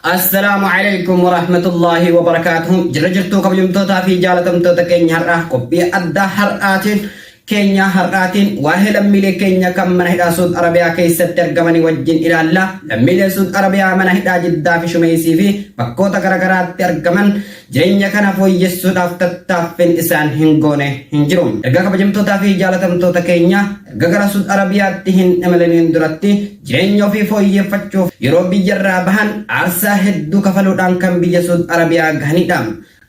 Assalaamu alaikum warahmatullaahi wabarakaatuhu jirra jirtuu kabajamtootaa fi jaalatamtoota keenya har'aa qophii addaa har'aatiin keenya har'aatiin waa'ee lammiilee keenya kan mana hidhaa Suud Arabiyaa keessatti argamanii wajjin ilaalla. Lammiilee Suud Arabiyaa mana hidhaa Jiddaa fi Shumeesii fi bakkoota garaagaraatti argaman jireenya kana fooyyessuudhaaf tattaaffiin isaan hin goone hin jiru. Erga kabajamtootaa fi jaalatamtoota keenya erga gara Suud Arabiyaatti hin imaliniin duratti Jireenya ofii fooyyeffachuuf yeroo biyyarraa bahan aarsaa hedduu kafaluudhaan kan biyya Suud Arabiyaa gahanidha.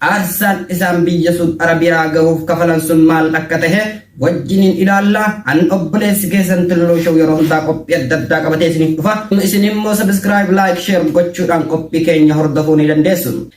Aarsaan isaan biyya Suud Arabiyaa gahuuf kafalan sun maal akka tahe wajjiniin ilaalla. An obboleessi keessan Tulluu Show yeroo hundaa qophii adda addaa qabatee isiniif dhufa. Isinimmoo subscribe, like, share gochuudhaan qophii keenya hordofuu ni dandeessu.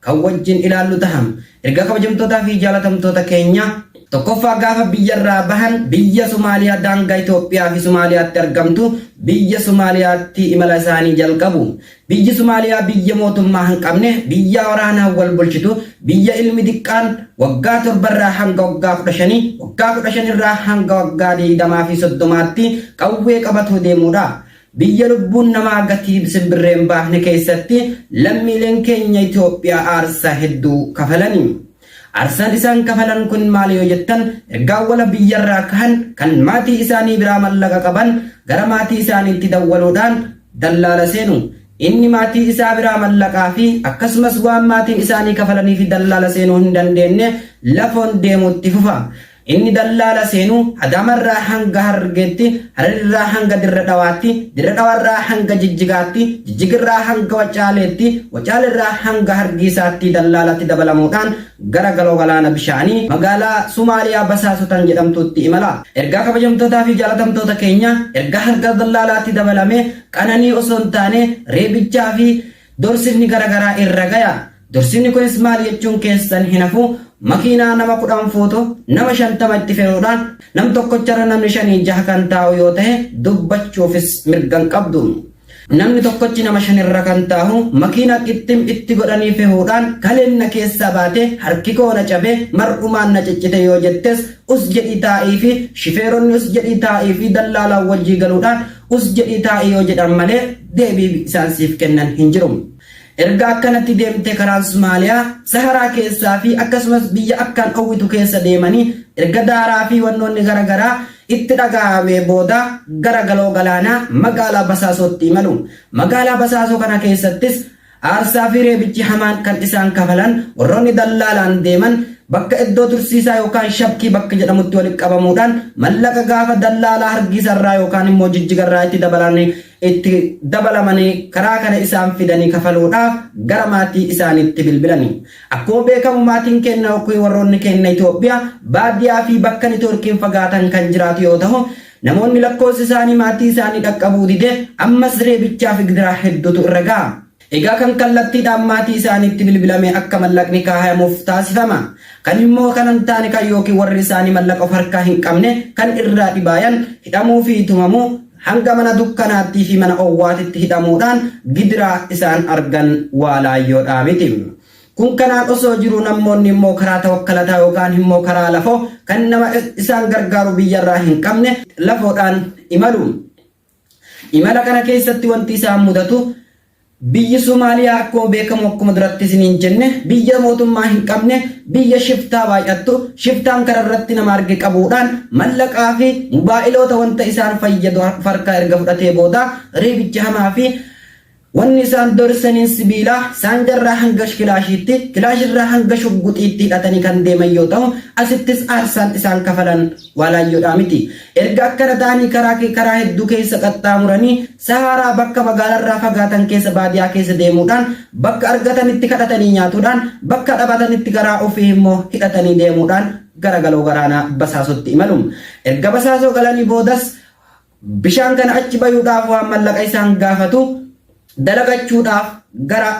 kan wajjin ilaallu taha. Ergaa kabajamtootaa fi jaalatamtoota keenya, Tokkoffaa gaafa biyyarraa bahan biyya Somaaliyaa daangaa Itoophiyaa fi Somaaliyaatti argamtu biyya Somaaliyaatti imala isaanii jalqabu. Biyyi Somaaliyaa biyya mootummaa hin qabne, biyyaa waraanaan wal bulchitu, biyya ilmi diqqaan waggaa 7 irraa hanga waggaa 15, waggaa 15 irraa hanga waggaa 20 fi 30tti qawwee qabatoo deemuudha. Biyya lubbuun namaa gatii simbirree hin baafne keessatti lammiileen keenya Itoophiyaa aarsaa hedduu kafalani. Aarsaan isaan kafalan kun maali yoo jettan erga awwala biyyarraa kahan kan maatii isaanii biraa mallaqa qaban gara maatii isaaniitti dawwaluudhaan dallaala seenu. Inni maatii isaa biraa mallaqaa fi akkasumas waan maatiin isaanii kafalanii fi dallaala seenuu hin dandeenne lafoon deemuu itti fufa. Inni dallaala seenu Adaamarraa hanga Harargeetti, Hararirraa hanga Dirre Dhawaatti, Dirre Dhawarraa hanga Jijjigaatti, Jijjigirraa hanga Wacaaleetti, Wacalerraa hanga Hargiisaatti dallaalatti dabalamuudhaan gara Galoo Galaana Bishaanii, magaalaa Sumaaliyaa Basaasotan jedhamtuutti imala. Ergaa kabajamtootaa fi jaalatamtoota keenya, ergaa harka dallaalaatti dabalamee qananii osoo hin taane reebichaa fi Dorsifni gara garaa irra gaya. Dorsifni kunis maal jechuun keessan hin hafu, makiinaa nama 10 fuutu, nama 50 itti fe'uudhaan, nam tokkocharra namni shanii jaha kan taa'u yoo tahe dubbachuufis mirga hin qabdu. Namni tokkochi nama shanirra kan taahu, makiinaa qixxim itti godhanii fehuudhaan, kaleen na keessaa baate, harkikoo na cabe, mar'umaan na ciccite yoo jettes, us jedhii taa'iifi, shifeeronni us jedhii taa'iifi dallaalaan wajjii galuudhaan, Us jedhii taa'i yoo jedhan malee deebii isaan siif kennan hin jiru. Erga akkanatti deemtee karaan Somaaliyaa, Saharaa keessaa fi akkasumas biyya akkaan dhowwitu keessa deemanii erga daaraa fi wannoonni gara garaa itti dhagaa'amee booda gara Galoo Galaanaa magaalaa Basaasootti imalu. Magaalaa Basaasoo kana keessattis Aarsaa fi reebichi hamaan kan isaan kafalan warroonni dallaalaan deeman bakka iddoo tursiisaa yookaan shabkii bakka jedhamutti walitti qabamuudhaan mallaqa gaafa dallaalaa hargiisa irraa yookaan immoo jijjiga irraa itti dabalanii itti dabalamanii karaa kana isaan fidanii kafaluudha gara maatii isaaniitti bilbilanii. Akkuma beekamu maatiin keenna yookiin warroonni keenna Itoophiyaa baadiyaa fi bakka nitoorkiin fagaatan kan jiraatu yoo tahu Namoonni lakkoofsi isaanii maatii isaanii dhaqqabuu dide ammas reebichaa fi gidiraa hedduutu irra ga'a. Egaa kan kallattiidhaan maatii isaaniitti bilbilamee akka mallaqni kaahayamuuf taasifama. Kan immoo kana hin taane kan ykn warri isaanii mallaqa of harkaa hin qabne kan irraa dhibaayan hidhamuu fi tumamuu hanga mana dukkanaattii fi mana owwaatitti hidhamuudhaan gidiraa isaan argan waa laayyoodhaa miti. Kun kanaan osoo jiruu nammoonni immoo karaa tawakkalataa yookaan himmoo karaa lafoo kan nama isaan gargaaru biyyarraa hin qabne lafoodhaan imalu. Imala kana keessatti wanti isaan mudatu biyyi Somaaliyaa akkuma beekamu akkuma duratti isiniin jenne biyya mootummaa hin qabne biyya shiftaa baay'attu shiftaan kana irratti nama arge qabuudhaan mallaqaa fi mubaa'iloota wanta isaan fayyadu farkaa erga fudhatee booda reebicha hamaa fi Wanni isaan doorsaniin sibiilaa, saanjarraa hanga kilaashiitti, kilaashirraa hanga shugguxiitti hidhatanii kan deeman yoo tahu, asittis aarsaan isaan kafalan waa laayyoodhaa miti. Erga akkana tahanii karaa karaa hedduu keessa qaxxaamuranii, Sahaaraa bakka magaalarraa fagaatan keessa baadiyaa keessa deemuudhaan, bakka argatanitti kadhatanii nyaatuudhaan, bakka dhabatanitti garaa ufii immoo hidhatanii deemuudhaan gara galoo garaanaa Basaasootti imalu. Erga Basaasoo galanii boodas, Bishaan kana achi bayuudhaaf waan mallaqa isaan gaafatu dalagachuudhaaf gara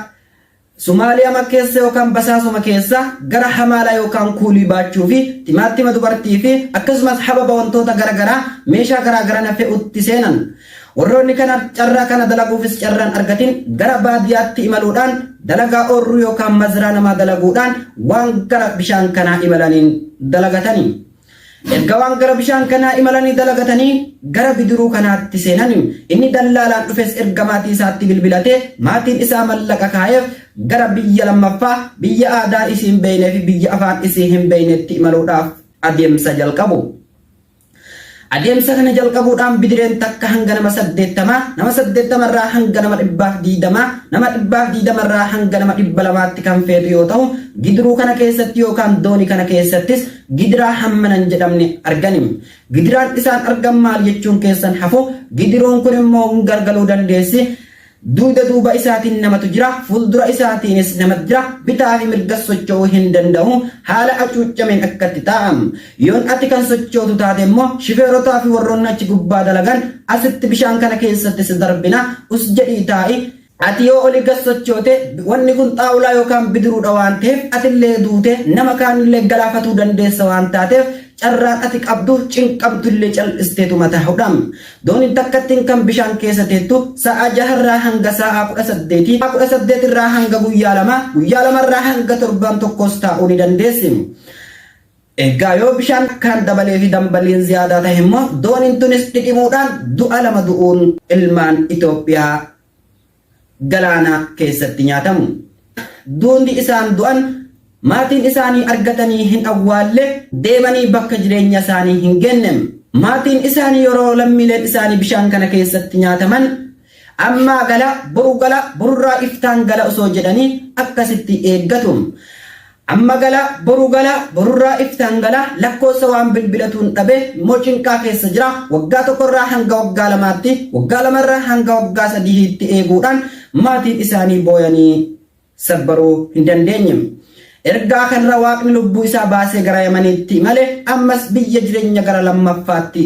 Sumaaliyaa makkeessa yookaan basaasuma keessa gara hamaalaa yookaan kuulii baachuu fi timaattima dubartii fi akkasumas hababa wantoota gara garaa meeshaa garaa garana fe'utti seenan. Warroonni kana carraa kana dalaguufis carraan argatin gara baadiyaatti imaluudhaan dalagaa oorruu yookaan mazraa namaa dalaguudhaan waan gara bishaan kanaa imalaniin dalagatani. Erga waan gara bishaan kanaa imalanii dalagatanii gara bidiruu kanaatti seenan inni dallaalaan dhufes erga maatii isaatti bilbilatee maatiin isaa mallaqa kaayeef gara biyya lammaffaa biyya aadaa isii hin beeynee fi biyya afaan isii hin beeynetti imaluudhaaf adeemsa jalqabu. Adeemsa kana jalqabuudhaan bidireen takka hanga nama saddeettamaa, nama saddeettamarraa hanga nama dhibbaaf diidamaa, nama dhibbaaf diidamarraa hanga nama dhibba lamaatti kan feetu yoo ta'u, bidiruu kana keessatti yookaan doonii kana keessattis Gidiraa hammana hin jedhamne arganim. Gidiraan isaan argan maal jechuun keessan hafo gidiroon kun immoo hin gargaluu dandeessi. Duuda duuba isaatiin namatu jira, fuuldura isaatiinis namatu jira, bitaa fi mirgas socho'uu hin danda'u, haala acuuccameen akkatti taa'am. Yoon ati kan sochootu taate immoo shifeerotaa fi warroonni achi gubbaa dalagan asitti bishaan kana keessatti si darbina, us jedhii taa'i, Ati yoo oli gad sochoote, wanni kun xaawulaa yookaan bidiruudha waan ta'eef atillee duutee nama kaanillee galaafatuu dandeessa waan taateef carraan ati qabdu cinqamtullee cal'isteetuma taa'uudha. Dooniin takkattiin kan bishaan keessa teettu saa'aa jaha irraa hanga saa'aa kudha saddeetii, saa'aa kudha saddeet irraa hanga guyyaa lamaa, guyyaa lama irraa hanga torbaan tokkoos taa'uu ni dandeessi. Egaa yoo bishaan akkaan dabalee fi dambaliin ziyaadaa tahe immoo dooniin tunis dhidhimuudhaan du'a lama du'uun ilmaan Itoophiyaa galaana keessatti nyaatamu. Duundi isaan du'an maatiin isaanii argatanii hin awwaalle, deemanii bakka jireenya isaanii hin geenne. Maatiin isaanii yeroo lammiileen isaanii bishaan kana keessatti nyaataman Ammaa gala, boru gala, borurraa iftaan gala osoo jedhanii akkasitti eeggatu. Amma gala, boru gala, borurraa iftaan gala, lakkoossa waan bilbilatuun dhabe, immoo cinqaa keessa jira, waggaa tokkorraa hanga waggaa lamaatti, waggaa lamarraa hanga waggaa sadihiitti eeguudhaan maatiin isaanii booyanii. sabbaruu hin dandeenye. Ergaa kanra Waaqni lubbuu isaa baasee gara Yamaniitti imale ammas biyya jireenya gara lammaffaatti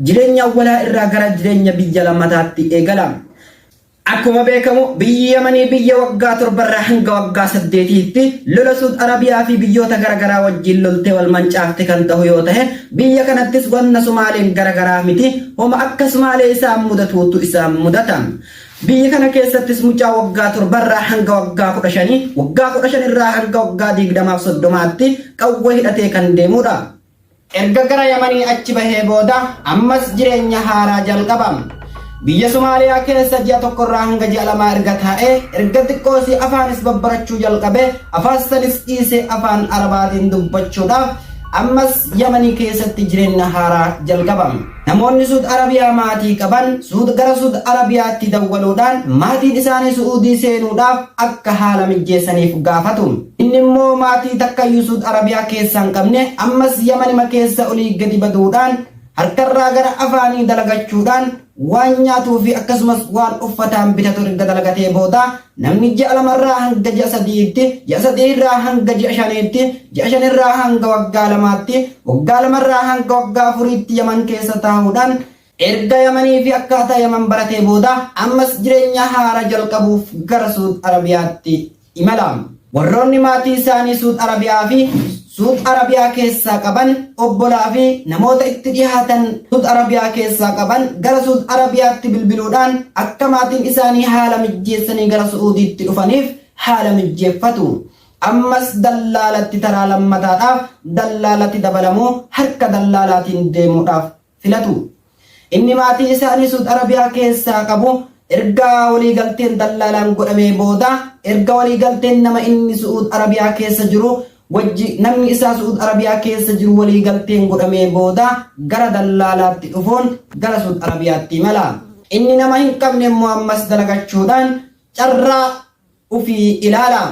jireenya awwalaa irraa gara jireenya biyya lammataatti eegala. Akkuma beekamu biyyi Yamanii biyya waggaa torbarraa hanga waggaa saddeetiitti lola Suud Arabiyaa fi biyyoota garagaraa wajjin loltee wal mancaafte kan tahu yoo tahe biyya kanattis wanna Sumaaleen garagaraa miti homa akka Sumaalee isaan mudatuutu isaan mudata. Biyya kana keessattis mucaa waggaa torba irraa hanga waggaa kudha shanii, waggaa kudha shan irraa hanga waggaa digdamaa fi soddomaatti qawwee hidhatee kan deemudha. Erga gara Yamanii achi bahee booda ammas jireenya haaraa jalqaba. Biyya Somaaliyaa keessa ji'a tokko irraa hanga ji'a lamaa erga taa'ee, erga xiqqoosii afaanis babbarachuu jalqabee, afaan sanis dhiisee afaan Arabaatiin dubbachuudhaaf ammas Yamanii keessatti jireenya haaraa jalqaba. Namoonni Suud Arabiyaa maatii qaban Suud gara Suud Arabiyaatti dawwaluudhaan maatiin isaanii Su'uudii seenuudhaaf akka haala mijjeessaniif gaafatu. Inni immoo maatii takkayyu Suud Arabiyaa keessa hin qabne ammas Yamanima keessa olii gadi baduudhaan harkarraa gara afaanii dalagachuudhaan waan nyaatuufi akkasumas waan uffataan bitatu erga dalagatee booda Namni ji'a lama irraa hanga ji'a sadi'iitti, ji'a sadii irraa hanga ji'a shaniitti, ji'a shan irraa hanga waggaa lamaatti, waggaa lama irraa hanga waggaa afuriitti Yaman keessa taa'uudhaan erga Yamanii fi akkaataa Yaman baratee booda ammas jireenya haaraa jalqabuuf gara Suud Arabiyaatti imala. Warroonni maatii isaanii Suud Arabiyaa fi Suud Arabiyaa keessaa qaban, obbolaa fi namoota itti dhihaatan Suud Arabiyaa keessaa qaban gara Suud Arabiyaatti bilbiluudhaan akka maatiin isaanii haala mijjeessanii gara Su'uudiitti dhufaniif haala mijjeeffatu. Ammas dallaalatti taraa lammataadhaaf dallaalatti dabalamu harka dallaalaatiin deemuudhaaf filatu. Inni maatii isaa inni Suud Arabiyaa keessaa qabu erga waliigalteen dallaalaan godhamee booda erga waliigalteen nama inni Su'uud Arabiyaa keessa jiru wajji namni isaa Su'uud Arabiyaa keessa jiru waliigalteen godhamee booda gara dallaalaatti dhufuun gara Suud Arabiyaatti imala. Inni nama hin qabne immoo ammas dalagachuudhaan carraa ufii ilaala.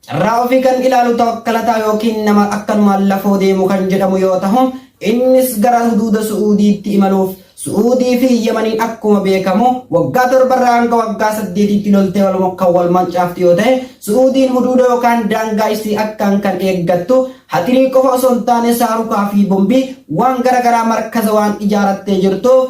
Carraa ofii kan ilaalu tawakkalataa yookiin nama akkanumaan lafoo deemu kan jedhamu yoo tahu, innis gara huduuda Su'uudiitti imaluuf Su'uudii fi Yamaniin akkuma beekamu waggaa torbarraa hanga waggaa saddeetiitti loltee wal kan wal mancaaftu yoo ta'e, Su'uudiin huduuda yookaan daangaa isii akkaan kan eeggattu hatirii qofa osoo hin taane saarukaa fi bombii waan gara garaa markaza waan ijaarattee jirtuuf,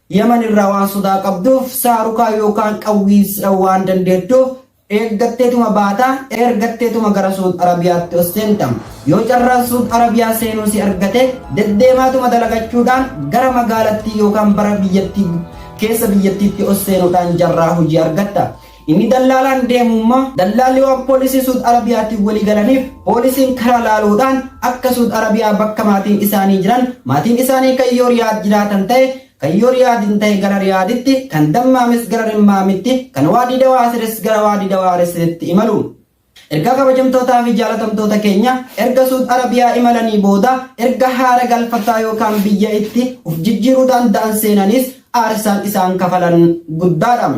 Yaman irraa waan sodaa qabduuf saarukaa yookaan qawwiis waan dandeettuuf eeggatteetuma baata, ergatteetuma gara Suud Arabiyaatti ol seenta. Yoo carraan Suud Arabiyaa seenuu si argate deddeemaatuma dalagachuudhaan gara magaalattii yookaan bara biyyattii keessa biyyattiitti ol seenuudhaan carraa hojii argatta. Inni dallaalaan deemu immoo dallaalli waan poolisii Suud Arabiyaatiin walii galaniif poolisiin karaa laaluudhaan akka Suud Arabiyaa bakka maatiin isaanii jiran maatiin isaanii kan yoo Riyaad jiraatan ta'e kan yoo Riyaad hin ta'e gara Riyaaditti kan Dammaamis gara Rimmaamitti kan Waadii Dawaasiris gara Waadii Dawaarisitti imalu. Ergaa kabajamtootaa fi jaalatamtoota keenya erga Suud Arabiyaa imalanii booda erga haara galfataa yookaan biyya itti of jijjiiruu daanda'an seenaniis aarsaan isaan kafalan guddaadha.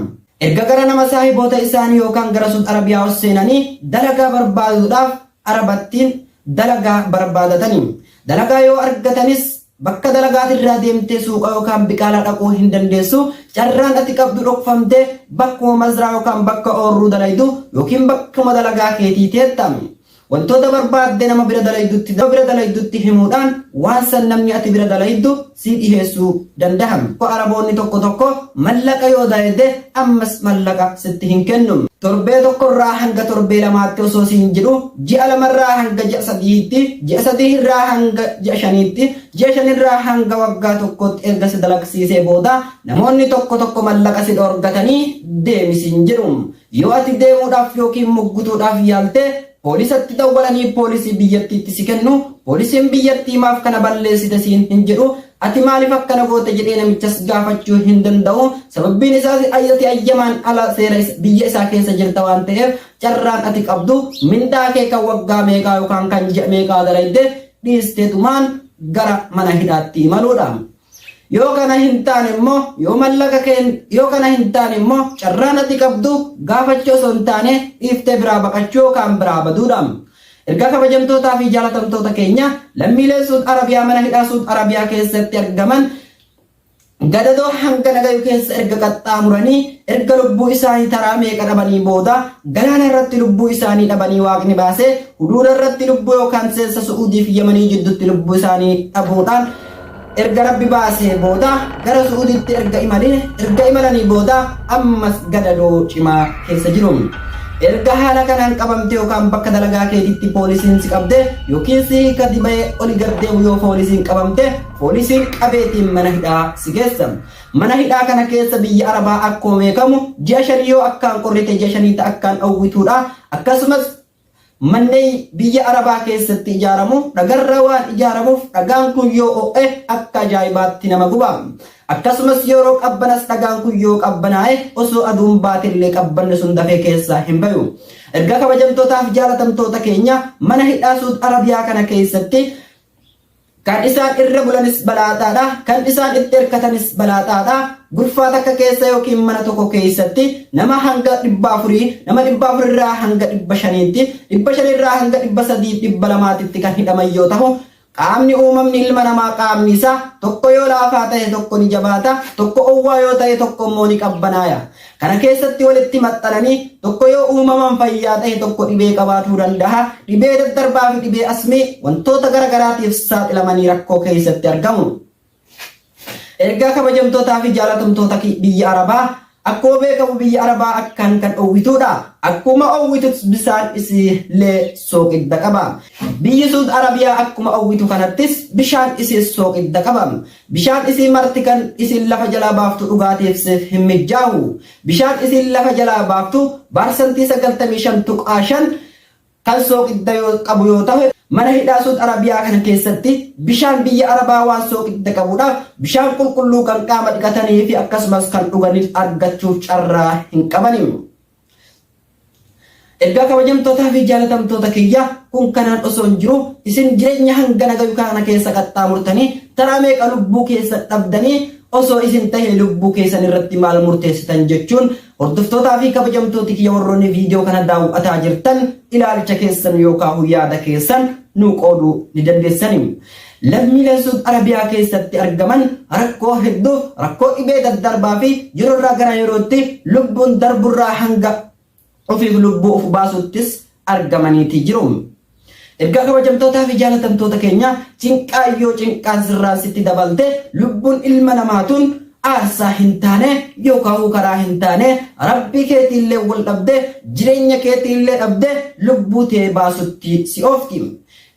Erga gara nama saahiboota isaanii yookaan gara Suud Arabiyaa ol seenanii dalagaa barbaaduudhaaf Arabattiin dalagaa barbaadatani. Dalagaa yoo argatanis Bakka dalagaati irraa deemtee suuqa yookaan biqaalaa dhaquu hin dandeessu, carraan ati qabdu dhokfamtee bakkuma mazraa yookaan bakka oorruu dalaydu yookiin bakkuma dalagaa keetii teetta. Wantoota barbaadde nama bira dalaydutti nama bira dalaydutti himuudhaan waan san namni ati bira dalayddu sii dhiheessuu dandaha. Araboonni tokko tokko mallaqa yoo dalayde ammas mallaqa sitti hin kennu. Torbee tokko irraa hanga torbee lamaatti osoo siin jedhu, ji'a lama irraa hanga ji'a sadihiitti, ji'a sadih irraa hanga ji'a shaniitti, ji'a shan irraa hanga waggaa tokkootti erga si dalagsiisee booda namoonni tokko tokko mallaqa si dhoorgatanii deemi siin jedhu. Yoo ati deemuudhaaf yookiin muggutuudhaaf yaalte Poolisatti dawwalanii poolisii biyyattiitti si kennu, poolisiin biyyattii maaf kana balleessite siin hin jedhu, ati maaliif akkana goote jedhee namichas gaafachuu hin danda'u, sababbiin isaas ati ayyamaan ala seera biyya isaa keessa jirta waan ta'eef carraan ati qabdu mindaa kee kan waggaa meeqaa yookaan kan ji'a meeqaa dalayde dhiisteetumaan gara mana hidhaatti imaluudha. Yoo kana hin taane immoo yoo mallaqa kee yoo kana hin taane immoo carraan ati qabdu gaafachuu osoo hin taane dhiiftee biraa baqachuu yookaan biraa baduudha. Ergaa kabajamtootaa fi jaalatamtoota keenya lammiilee Suud Arabiyaa mana hidhaa Suud Arabiyaa keessatti argaman gadadoo hanga nagayu keessa erga qaxxaamuranii erga lubbuu isaanii taraa meeqa dhabanii booda galaana irratti lubbuu isaanii dhabanii waaqni baasee huduuda irratti lubbuu yookaan seensa su'uudiif yamanii jiddutti lubbuu isaanii dhabuudhaan Erga Rabbi baasee booda gara Su'uudiitti erga imalee, erga imalanii booda ammas gadadoo cimaa keessa jiru. Erga haala kanaan qabamtee yookaan bakka dalagaa keetitti poolisiin si qabde yookiin si hiika dibayee oli gad deemu yoo poolisiin qabamte poolisiin qabeetiin mana hidhaa si geessa. Mana hidhaa kana keessa biyya Arabaa akkuma beekamu ji'a shanii yoo akkaan qorrite ji'a shaniita akkaan dhowwituudha. Akkasumas Manneen biyya Arabaa keessatti ijaaramu dhagarraa waan ijaaramuuf dhagaan kun yoo o'e akka ajaa'ibaatti nama guba. Akkasumas yeroo qabbanas dhagaan kun yoo qabbanaa'e osoo aduun baatellee qabbanni sun dafee keessaa hin bayu. Erga kabajamtootaaf jaalatamtoota keenya mana hidhaa Suud Arabiyaa kana keessatti Kan isaan irra bulanis balaaxaa dha, kan isaan itti irkatanis balaaxaa dha, gurfaa takka keessa yookiin mana tokko keessatti nama hanga dhibba afurii, nama dhibba afur irraa hanga dhibba shaniitti, dhibba shan irraa hanga dhibba sadii, dhibba lamaatitti kan hidhaman yoo tahu, qaamni uumamni ilma namaa qaamni isaa tokko yoo laafaa tahe tokko ni jabaata, tokko owwaa yoo tahe tokko immoo ni qabbanaaya. Kana keessatti walitti maxxananii tokko yoo uumamaan fayyaa ta'e tokko dhibee qabaatuu danda'a. Dhibee daddarbaa fi dhibee asmii wantoota gara garaatiif saaxilamanii rakkoo keessatti argamu. Ergaa kabajamtootaa fi jaalatamtoota ki- biyya Arabaa akkuma beekamu biyya Arabaa akkaan kan dhowwituudha. Akkuma owwitus bisaan isiillee sooqidda qaba. Biyyi Suud Arabiyaa akkuma owwitu kanattis bishaan isiis sooqidda qaba. Bishaan isii marti kan isin lafa jalaa baaftu dhugaatiif siif hin mijjaawu. Bishaan isiin lafa jalaa baaftu baarsantii 95.5 kan sooqidda qabu yoo tahe, mana hidhaa Suud Arabiyaa kana keessatti bishaan biyya Arabaa waan sooqidda qabudha, bishaan qulqulluu kan qaama dhiqataniifi akkasumas kan dhuganiif argachuuf carraa hin qabani. Ergaa kabajamtootaa fi jaalatamtoota kiyya kun kanaan osoo hin jiru isin jireenya hangana gayu kana keessa qaxxaamurtanii taraa meeqa lubbuu keessan dhabdanii osoo isin tahee lubbuu keessan irratti maal murteessitan jechuun hordoftootaa fi kabajamtooti kiyya warroonni viidiyoo kana daawwataa jirtan ilaalcha keessan yookaan yaada keessan nuu qooduu ni dandeessanii. Lammiileen Suud Arabiyaa keessatti argaman rakkoo hedduu, rakkoo dhibee daddarbaa fi yeroorraa gara yerootti lubbuun darburraa hanga ofiif lubbuu of baasuuttis argamaniiti jiru. Ergaa kabajamtootaa fi jaalatamtoota keenya cinqaa yoo cinqaan sirraan sitti dabalte lubbuun ilma namaatuun aarsaa hin taane yookaan karaa hin taane rabbii keetiillee wal dhabde jireenya keetiillee dhabde lubbuu tee baasutti si oofti.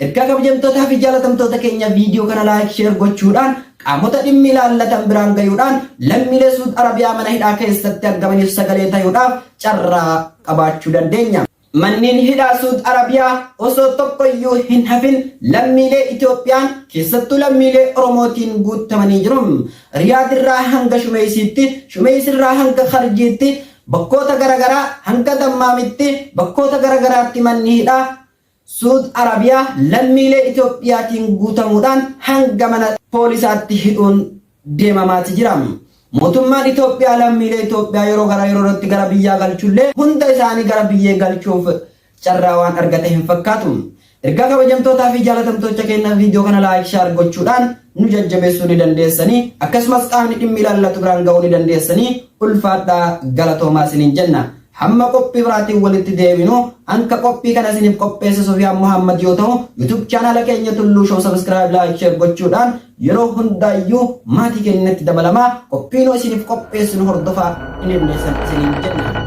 Ergaa kabjamtootaa fi jaalatamtoota keenya video kana like share gochuudhaan qaamota dhimmi ilaallatan biraan gayuudhaan lammiilee Suud Arabiyaa mana hidhaa keessatti argamaniif sagalee tayuudhaaf carraa qabaachuu dandeenya. Manneen hidhaa Suud Arabiyaa osoo tokkoyyuu hin hafin lammiilee Itoophiyaan keessattuu lammiilee Oromootiin guuttamanii jiru. Riyaad irraa hanga Shumeeysiitti, Shumeeysi irraa hanga Kharjiitti, bakkoota garagaraa hanga Dammaamitti, bakkoota garagaraatti manni hidhaa Suud Arabiyaa lammiilee Itoophiyaatiin guutamuudhaan hanga mana poolisaatti hidhuun deemamaati jira. Mootummaan Itoophiyaa lammiilee Itoophiyaa yeroo gara yeroorratti gara biyyaa galchullee hunda isaanii gara biyyee galchuuf carraa waan argate hin fakkaatu. Ergaa kabajamtootaa fi jaalatamtoocha keenya viidiyoo kana laayik shaar gochuudhaan nu jajjabeessuu ni dandeessanii akkasumas qaamni dhimmi ilaallatu biraan ga'uu ni dandeessanii ulfaadhaa galatoomaa isiniin jenna. Hamma qophii biraatiin walitti deebinu hanka qophii kana isiniif qopheesse Sufiyaan Muhammad yoo ta'u YouTube chaanaala keenya Tulluu Show subscribe like share gochuudhaan yeroo hundaayyuu maatii keenyatti dabalamaa qophii nu isiniif qopheessinu hordofaa hin hirneessan isiniin jenna.